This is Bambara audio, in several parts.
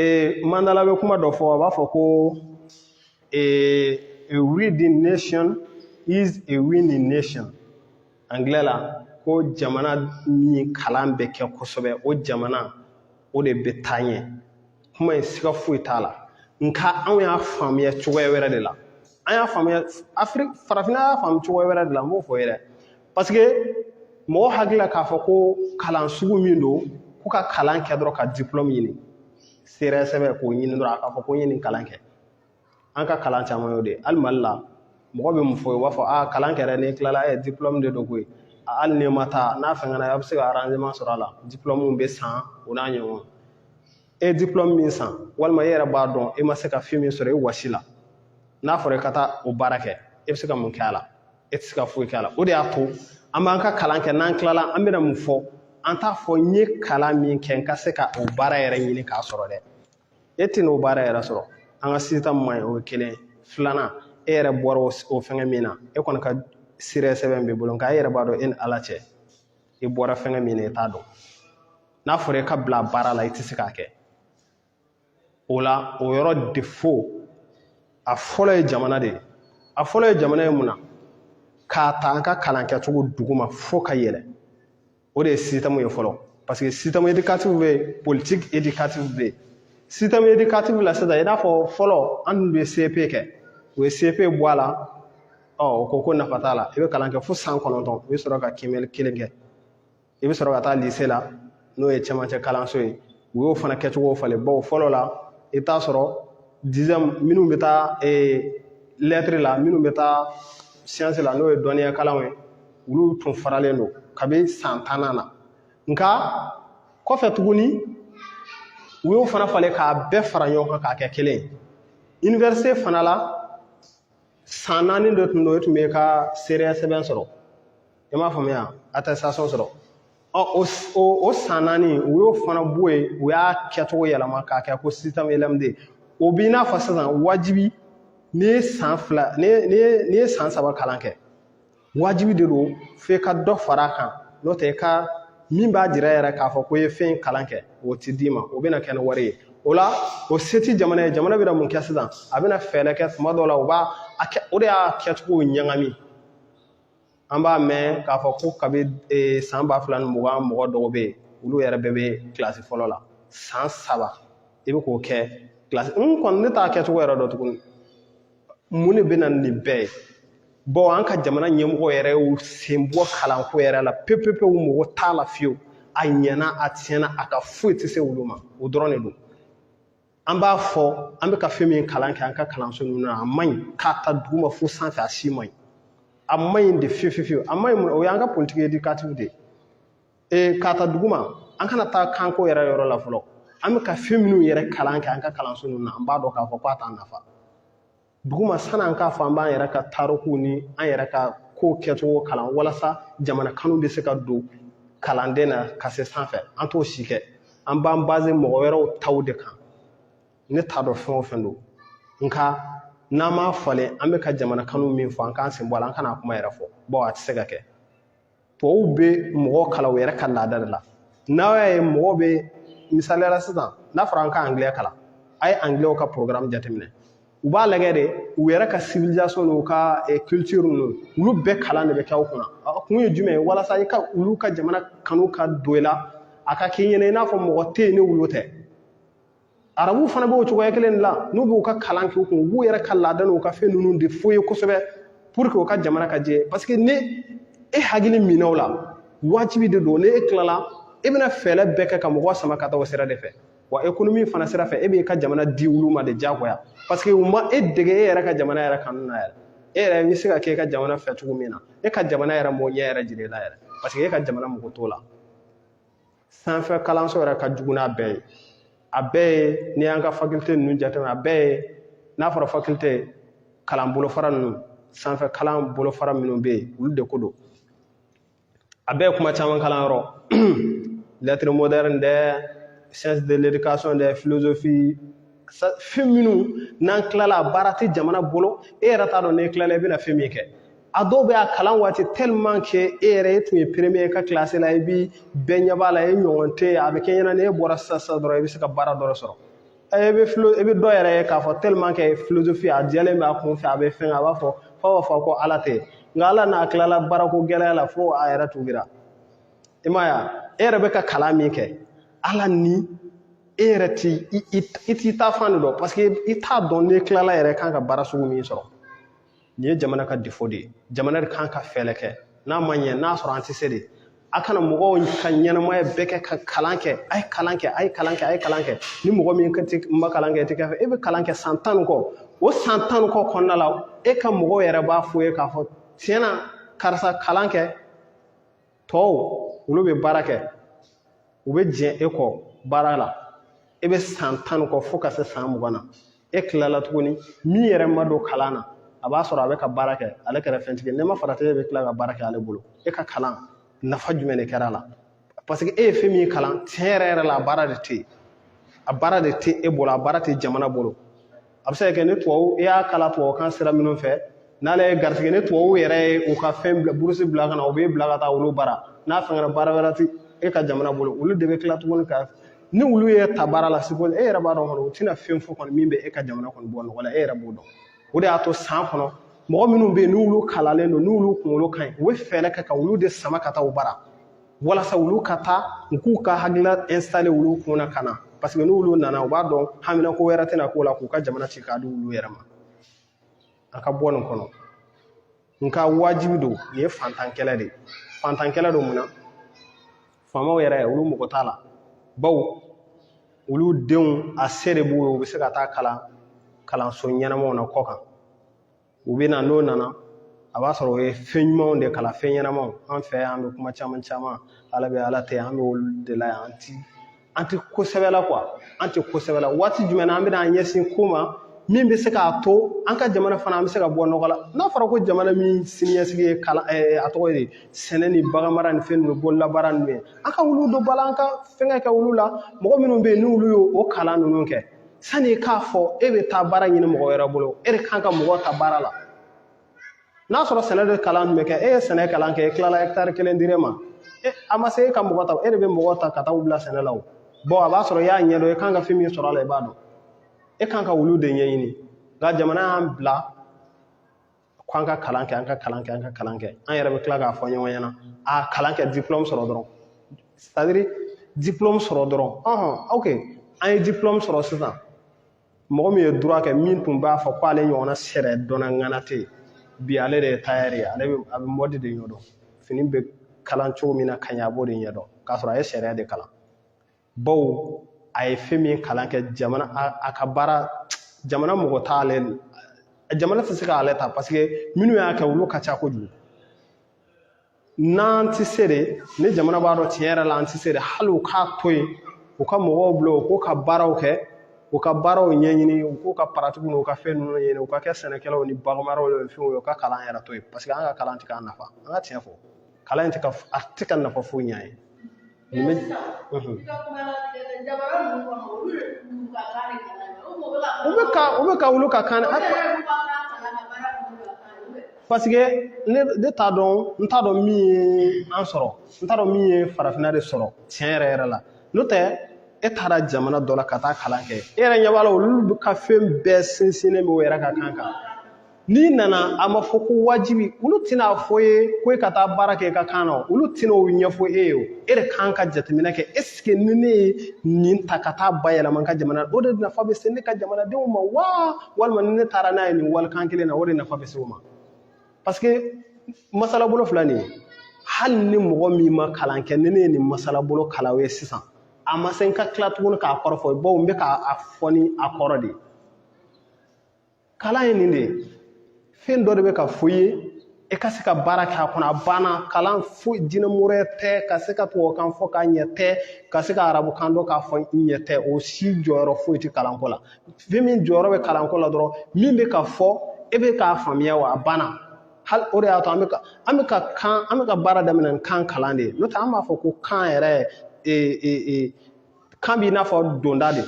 ee mandela bɛ kuma dɔ fɔ a b'a fɔ ko ee a reading nation is a winning nation angilɛ la ko jamana min kalan bɛ kɛ kosɛbɛ o jamana o de bɛ taa ɲɛ kuma in siga foyi t'a la nka anw y'a faamuya cogoya wɛrɛ de la an y'a faamuya afiriki farafinna y'a faamu cogoya wɛrɛ de la n b'o fɔ yɛrɛ parce que mɔgɔ hakili la k'a fɔ ko kalan sugu min don ko ka kalan kɛ dɔrɔn ka diplôme ɲini seereya sɛbɛn k'o ɲini dɔrɔn a k'a fɔ ko n ye nin kalan kɛ an ka kalan caman y'o de ye hali mali la mɔgɔ bɛ mun fɔ u b'a fɔ aa kalan kɛra n'i tilala ɛ diplôme de don koyi hali n'i ma taa n'a fɛngɛ na a bɛ se ka arrangement sɔrɔ a la diplôme bɛ san o n'a ɲɔgɔn e diplôme min san walima e yɛrɛ b'a dɔn e ma se ka fɛn min sɔrɔ e wɔsi la n'a fɔra i ka taa o baara kɛ e bɛ se ka mun kɛ a la e tɛ se ka foyi k'a la o de y'a to an b'an ka kalan kɛ n'an tilala an bɛna mun fɔ an t'a fɔ n ye kalan min kɛ n ka se ka o baara yɛrɛ ɲini k'a sɔrɔ dɛ e tɛn'o baara yɛrɛ sɔrɔ an ka système man ɲi o ye kelen filanan e yɛrɛ bɔra o fɛngɛ min na e kɔni ka seereya sɛbɛn b'i bolo nka e yɛrɛ b'a dɔn e ni ala cɛ i bɔra fɛngɛ min na i t'a dɔn n'a fɔra e ka bila baara la i tɛ se k'a kɛ o la o yɔrɔ défaut a fɔlɔ ye jamana de ye a fɔlɔ ye jamana ye mun na k'a ta an ka kalan kɛcogo duguma fo ka yɛlɛ o de ye système ye fɔlɔ parce que système éducatif bɛ yen politique éducative bɛ yen système éducatif la sisan i n'a fɔ fɔlɔ an tun bɛ cep kɛ u ye cep bɔ a la ɔ u ko ko nafa t'a la i bɛ kalan kɛ fo san kɔnɔntɔn i bɛ sɔrɔ ka kiimɛli kelen kɛ i bɛ sɔrɔ ka taa lise la n'o ye cɛmancɛ kalanso ye u y'o fana kɛcogo falen bawo fɔlɔ la i bɛ taa sɔrɔ dizɛmu minnu bɛ taa lɛtiri la minnu bɛ taa siyansi la n'o ye dɔnniya kalanw ye olu tun faralen don kabi san tannan na nka kɔfɛ tuguni u y'o fana falen k'a bɛɛ fara ɲɔgɔn kan k'a kɛ kelen ye iniwerisite fana la san naani de tun don e tun bɛ ka seereya sɛbɛn sɔrɔ i m'a faamuya attestation sɔrɔ ɔ o o san naani u y'o fana bɔ yen u y'a kɛcogo yɛlɛma k'a kɛ ko système lmd o b'i n'a fɔ sisan wajibi n'i ye san fila n'i ye n'i ye n'i ye san saba kalan kɛ wajibi de don f'i ka dɔ fara a kan n'o tɛ i ka min b'a jira yɛrɛ k'a fɔ ko i ye fɛn in kalan kɛ o ti d'i ma o bɛna kɛ ni wari ye o la o se ti jamana ye jamana bɛna mun kɛ sisan a bɛna fɛɛrɛ kɛ tuma dɔw la u b'a a kɛ o de y'a kɛcogo ɲagami an b'a mɛn k'a fɔ ko kabi e, san ba fila ni mugan mɔgɔ dɔw bɛ yen olu yɛrɛ bɛɛ bɛ kilasi fɔlɔ la san saba i bɛ k'o kɛ kilasi n kɔni ne t'a kɛcogo yɛrɛ dɔn tuguni mun de bɛ na nin bɛɛ ye bon an ka jamana ɲɛmɔgɔ yɛrɛ y'u sen bɔ kalanko yɛrɛ la pepepewu mago t'a la fiyewu a ɲɛna a tiɲɛna a ka foyi tɛ se olu ma o dɔrɔn de don an b'a fɔ an bɛ ka fɛn min kalan kɛ an ka kalanso ninnu na a man ɲi k'a ta duguma fo sanfɛ a si man ɲi a man ɲi de fiyewu fiyewu a man ɲi mun o y'an ka politique éducative de ye ee k'a ta duguma an kana taa kanko yɛrɛ yɔrɔ la fɔlɔ an bɛ ka fɛn minnu yɛrɛ kalan kɛ an ka kalanso ninnu na an b'a dɔn k'a fɔ k'a t'an nafa duguma san'an k'a fɔ an b'an yɛrɛ ka taarikuw ni an yɛrɛ ka kow kɛcogo kalan walasa jamana kanu bɛ se ka don kalanden na ka se sanfɛ an t'o si kɛ an b'an baze mɔgɔ wɛrɛw taw de kan ne t'a dɔn fɛn o fɛn don nka n'an m'a falen an bɛ ka jamana kanu min fɔ an k'an sen bɔ a la an kan'a kuma yɛrɛ fɔ bawo a tɛ se ka kɛ tɔw bɛ mɔgɔ kalan u yɛrɛ ka laada de la n'a y'a ye mɔgɔ bɛ misaliya la sisan n'a fɔra an ka angilɛ kalan a ye angilɛw ka programme jateminɛ u b'a lagɛ de u yɛrɛ ka civilisation n'u ka eh, culture ninnu olu bɛɛ kalan de bɛ kɛ u kunna a kun ye jumɛn ye walasa i ka olu ka jamana kanu ka don i la a ka k'i ɲɛna i n'a fɔ mɔgɔ tɛ yen ni olu tɛ arabuw fana b'o cogoya kelen de la n'u b'u ka kalan kɛ u kun u b'u yɛrɛ ka laada n'u ka fɛn ninnu de f'u ye kosɛbɛ pour que u ka jamana ka jɛ parce que ni e hakili minɛ o la wajibi de don ni e tilala e bɛna fɛɛrɛ bɛɛ kɛ ka mɔgɔ sama ka taa o sira de fɛ wa ekonomi fana sira fɛ e b'i ka jamana di olu ma de diyagoya parce que u ma e dege e yɛrɛ ka jamana yɛrɛ kanu na yɛrɛ e yɛrɛ bɛ se ka kɛ e ka jamana fɛ cogo min na e ka jamana yɛrɛ m'o ɲɛ yɛrɛ jira e la yɛrɛ parce que e ka jamana mago t'o la sanfɛ kalanso yɛrɛ ka jugu n'a bɛɛ ye a bɛɛ ye n'i y'an ka fakilte ninnu jateminɛ a bɛɛ ye n'a fɔra fakilte kalan bolofara ninnu sanfɛ kalan bolofara minnu bɛ yen olu de ko don a bɛɛ ye kuma caman kalan yɔrɔ lettres modernes dɛ sciences de l'éducation dɛ philosophie fɛn minnu n'an tilala a baara tɛ jamana bolo e yɛrɛ t'a dɔn n'e tilala i bɛna fɛn min kɛ a dɔw bɛ a kalan waati tellement que e yɛrɛ e tun ye premier ye i ka classe la i bi bɛɛ ɲɛ b'a la e ɲɔgɔn tɛ yen a bɛ k'e ɲɛna n'e bɔra sisan sisan dɔrɔn i bɛ se ka baara dɔ sɔrɔ e bɛ philo e bɛ dɔ yɛrɛ ye k'a fɔ tellement que philosophie a jɛlen bɛ a kun fɛ a bɛ fɛn a b'a fɔ f'a b'a fɔ ko ala tɛ nka ala n'a tilala baarako gɛlɛya la fo a yɛrɛ tuubira i m'a ye e yɛrɛ bɛ ka kalan min kɛ ala ni e yɛrɛ t'i taafan de dɔn parce que i t'a dɔn n'i tilala yɛrɛ kan ka baara sugu min sɔrɔ nin ye jamana ka défaut de ye jamana de kan ka fɛɛlɛ kɛ n'a ma ɲɛ n'a sɔrɔ an tɛ se de a kana mɔgɔw ka ɲɛnamaya bɛɛ kɛ ka kalan kɛ a ye kalan kɛ a ye kalan kɛ a ye kalan kɛ ni mɔgɔ min ma kalan kɛ i tɛ kɛ fɛn ye e bɛ kalan kɛ san tan ni kɔ o san tan ni kɔ kɔnɔna la e ka mɔgɔw yɛrɛ b'a fɔ i ye k'a fɔ tiɲɛ na karisa kalan kɛ tɔw olu bɛ baara kɛ u bɛ jɛn e kɔ baara la e bɛ san tan kɔ fo ka se san mugan na e tilala tuguni min yɛrɛ ma don kalan na a b'a sɔrɔ a bɛ ka baara kɛ ale kɛra fɛntigi n'i ma farati e bɛ tila ka baara kɛ ale bolo e ka kalan nafa jumɛn de kɛra a la parce que e ye fɛn min kalan tiɲɛ yɛrɛ yɛrɛ la a baara de tɛ yen a baara de tɛ e bolo a baara tɛ jamana bolo a bɛ se ka kɛ ni tubabu i y'a kalan tubabukan sira minnu fɛ n'ale ye garisɛgɛ ni tubabu yɛrɛ ye u ka fɛn burusi bila ka na u b'e bila ka taa olu bara n'a fɛngɛra baara wɛrɛ tɛ e ka jamana bolo olu de bɛ tila tuguni ka ni olu y'e ta baara la c'est que e yɛrɛ b'a dɔn kɔni u tɛna fɛn fɔ kɔni min bɛ e ka jamana kɔni bɔ nɔgɔ la e yɛrɛ b'o dɔn o de y'a to san kɔnɔ mɔgɔ minnu bɛ yen n'olu kalanlen don n'olu kunkolo ka ɲi u bɛ fɛɛrɛ kɛ ka olu de sama ka taa u bara walasa olu ka taa u k'u ka hakilina installer olu kun na ka na parce que n'olu nana u b'a dɔn haminako wɛrɛ tɛna k'u la k'u ka jamana ci k'a di olu yɛrɛ ma a ka bɔ nin kɔnɔ nka wajibi don nin ye fantankɛlɛ de ye fantankɛlɛ don mun na faamaw yɛrɛ olu mɔgɔ t'a la bawo olu denw a se de b'u ye u bɛ se ka taa kalanso ɲɛnamaw na kɔkan u bɛ na n'u nana a b'a sɔrɔ u ye fɛn ɲumanw de kalan fɛn ɲɛnamaw an fɛ yan an bɛ kuma caman caman ala bɛ ala tɛ an bɛ olu de la yan an ti an tɛ ko sɛbɛ la quoi an tɛ ko sɛbɛ la waati jumɛn na an bɛna an ɲɛsin ko ma min bɛ se k'a to an ka jamana fana an bɛ se ka bɔ nɔgɔ la n'a fɔra ko jamana min siniɲɛsigi ye kalan eh, a tɔgɔ ye sɛnɛ ni baganmara ni fɛn ninnu bololabaara ninnu ye an ka olu don ba la an ka fɛnkɛ kɛ olu la mɔgɔ minnu bɛ yen n'olu y'o kalan ninnu kɛ sani k'a fɔ e bɛ taa baara ɲini mɔgɔ wɛrɛ bolo e de kan ka mɔgɔ ta baara la n'a sɔrɔ sɛnɛ de kalan bɛ kɛ e ye sɛnɛ kalan kɛ e tilala ɛkitari kelen dir'e ma a ma se e ka mɔgɔ ta e de bɛ mɔgɔ ta ka taa u bila sɛnɛ la o bon a b'a sɔrɔ i y'a ɲɛdɔn e kan ka fɛn min sɔrɔ a la i b'a dɔn e kan ka olu de ɲɛɲini nka jamana y'an bila ko an ka kalan kɛ an ka kalan kɛ an ka kalan kɛ an yɛrɛ bɛ tila k'a fɔ ɲɔgɔn ɲɛna a kalan kɛ diplɔmu sɔrɔ dɔrɔn c'est à dire diplɔmu sɔrɔ dɔrɔn ɔhɔn ok an ye diplɔmu sɔrɔ sisan mɔgɔ min ye droit kɛ min tun b'a fɔ ko ale ɲɔgɔnna sariyadɔnna ŋana tɛ yen bi ale de ye tayɛri ye ale bɛ a bɛ mɔdi de ɲɛdɔn fini bɛ kala cogo min na ka ɲɛ a b'o de ɲɛdɔn k'a sɔrɔ a ye sariya de kalan bawo a ye fɛn min kalan kɛ jamana a ka baara jamana mɔgɔ t'ale jamana tɛ se k'ale ta paseke minnu y'a kɛ olu ka ca kojugu n'an tɛ se de ni jamana b'a dɔn tiɲɛ yɛrɛ la an tɛ se de hali u k'a to yen u ka mɔgɔw bila u k'u ka baaraw kɛ u ka baaraw ɲɛɲini u k'u ka paratikiw n'u ka fɛn ninnu ɲɛɲini u ka kɛ sɛnɛkɛlaw ni baganmaraw ni fɛnw ye u ka kalan yɛrɛ to yen paseke an ka kalan tɛ k'an nafa an ka tiɲɛ fɔ kalan in tɛ ka a tɛ ka nafa foyi ɲɛ an ye Nin bɛ u bɛ ka u bɛ ka olu ka kan parce que ne ne t'a dɔn n t'a dɔn min ye an sɔrɔ n t'a dɔn min ye farafinna de sɔrɔ tiɲɛ yɛrɛ yɛrɛ la n'o tɛ e taara jamana dɔ la ka taa kalan kɛ e yɛrɛ ɲɛ b'a la olu ka fɛn bɛɛ sinsinnen bɛ u yɛrɛ ka kan kan n'i nana a ma fɔ ko wajibi olu tɛna a fɔ i ye ko e ka taa baara kɛ i ka kan na olu tɛna o ɲɛfɔ e ye o e de kan ka jateminɛ kɛ esike ni ne ye nin ta ka taa bayɛlɛma n ka jamana o de nafa bɛ se ne ka jamanadenw ma wa walima ni ne taara n'a ye nin walikan kelen na o de nafa bɛ se u ma parce que masalabolo filɛ nin ye hali ni mɔgɔ min ma kalan kɛ ni ne ye nin masalabolo kalan o ye sisan a ma se n ka tila tuguni k'a kɔrɔ fɔ bawo n bɛ k'a fɔ ni a kɔrɔ de ye kalan ye nin de ye fɛn dɔ de bɛ ka fɔ i ye e ka se ka baara kɛ a kɔnɔ a banna kalan foyi jinɛmori tɛ ka se ka tubabukan fɔ k'a ɲɛ tɛ ka se ka arabukan dɔn k'a fɔ i ɲɛ tɛ o si jɔyɔrɔ foyi tɛ kalanko la fɛn min jɔyɔrɔ bɛ kalanko la dɔrɔn min bɛ ka fɔ e bɛ k'a faamuya wa a banna hali o de y'a to an bɛ ka an bɛ ka kan an bɛ ka baara daminɛ ni kan kalan de ye n'o tɛ an b'a fɔ ko kan yɛrɛ ee ee kan b'i n'a fɔ donda de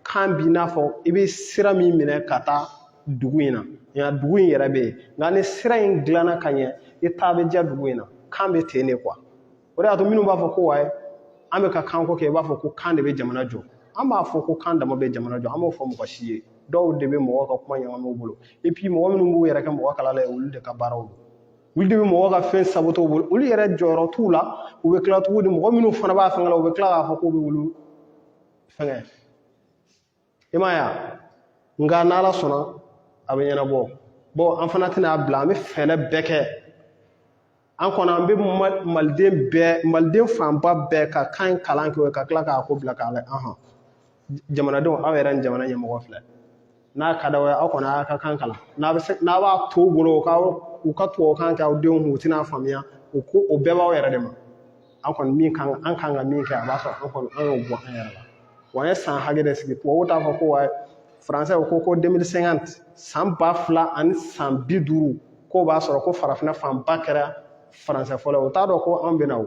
kan b'i n'a fɔ i bɛ sira min minɛ ka taa dugu in na nka dugu in yɛrɛ bɛ yen nka ni sira in dilanna ka ɲɛ i taa bɛ diya dugu in na kan bɛ ten de kuwa o de y'a to minnu b'a fɔ ko wayi an bɛ ka kanko kɛ i b'a fɔ ko kan de bɛ jamana jɔ an m'a fɔ ko kan dama bɛ jamana jɔ an m'o fɔ mɔgɔ si ye dɔw de bɛ mɔgɔw ka kuma ɲagami u bolo mɔgɔ minnu b'u yɛrɛ kɛ mɔgɔ kalanna ye olu de ka baaraw don olu de bɛ mɔgɔ ka fɛn saboter u bolo olu yɛrɛ jɔyɔrɔ t'u la u bɛ tila tuguni mɔgɔ minnu fana b'a fɛngɛ la u bɛ tila k'a fɔ k'u bɛ olu fɛngɛ i m'a ye wa nka n'ala sɔnna a bɛ ɲɛnabɔ bon an fana tɛna a bila an bɛ fɛɛrɛ bɛɛ kɛ an kɔni an bɛ maliden bɛɛ maliden fanba bɛɛ ka kan in kalan kɛ ka tila k'a ko bila k'a lajɛ jamanadenw aw yɛrɛ ni jamana ɲɛmɔgɔ filɛ n'a ka d'aw ye aw kɔni aw ka kan kalan n'a bɛ se n'a b'a to u bolo k'aw u ka tubabukan kɛ aw denw kun u tɛna faamuya o ko o bɛɛ b'aw yɛrɛ de ma an kɔni min kan an kan ka min kɛ a b'a sɔrɔ an kɔni an y'o bɔ an yɛrɛ la wa an ye san hakɛ de sigi tubabuw t'a fɔ ko wa faransɛ ko ko 2050 san ba fila ani san bi duuru k'o b'a sɔrɔ ko farafinna fanba kɛra faransɛ fɔla ye u t'a dɔn ko an bɛna o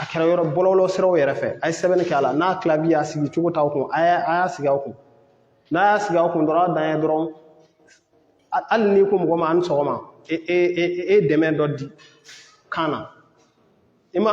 a kɛra yɔrɔ bɔlɔlɔ siraw yɛrɛ fɛ a ye sɛbɛnni kɛ a la n'a clavier y'a sigi cogo t'aw kun a y'a a y'a sigi aw kun n'a y'a sigi aw kun dɔrɔn a dan ye dɔrɔn hali n'i ko mɔgɔ ma a ni sɔgɔma e e e e dɛmɛ dɔ di kan na i ma